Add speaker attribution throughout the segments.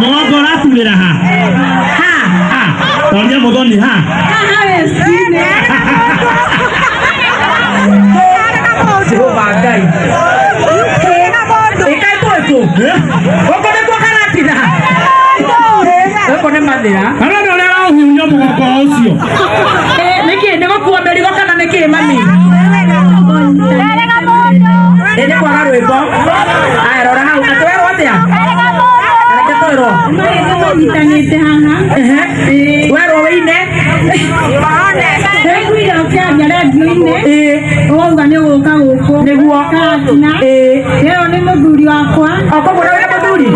Speaker 1: mũgongo ũraturĩra ha ha ha tondũ mũthoni ha jehova ngai ĩkai twĩkũ gũkũ nĩkuo karatira gũkũ nĩ mathĩra kana nĩ ũrĩa ũrahuria mũgongo ũcio nĩkĩ nĩ gũkua mĩrigo kana nĩkĩ mami ĩnĩ kwaga rwĩmbo arora hau na twerwo atia reke twerwo Nyitanĩte haha Ehe. werwo wĩine Nĩngwĩra ũkĩaria redio-inĩ Ĩĩ. wauga nĩ gũka gũkũ Nĩguo. Katina Ĩĩ. Weo nĩ mũthuri wakwa okoguo na wĩ mũthuri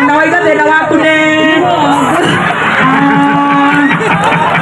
Speaker 1: na waiga thĩna waku nĩ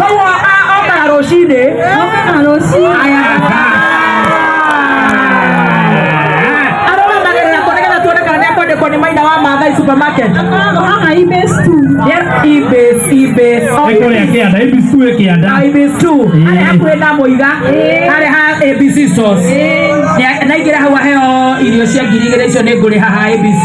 Speaker 1: koguo a- okaga rũcinĩ Okaga rũcinĩ. arũgamagĩrĩra kũ nĩgetha tuone kana nĩ akwandĩkwo nĩ maina wa maathai supermarket Akoragwo haha Ibis tu. yes ibis ibis Nĩ kũrĩa kĩanda, ibis tu ĩ kĩanda. ibis tu arĩa hakuhĩ na mũiga arĩa ha abc sauce Nĩ- naingĩra hau aheo irio cia ngiri igĩrĩ icio nĩ ngũrĩ haha abc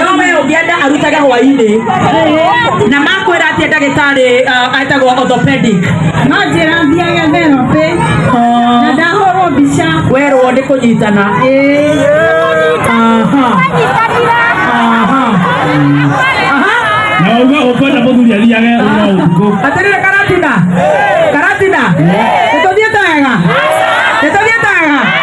Speaker 1: no we ũngĩenda arutage hwainĩ na makwĩra atĩ ndagĩtarĩ uh, etagwo orthopedic werwo nĩ kũnyitana Aha. Aha. na uga ukwenda muthuri athiage uga utuku atĩrĩrĩ karatina karatina nĩtũthiĩte wega nĩtũthiĩte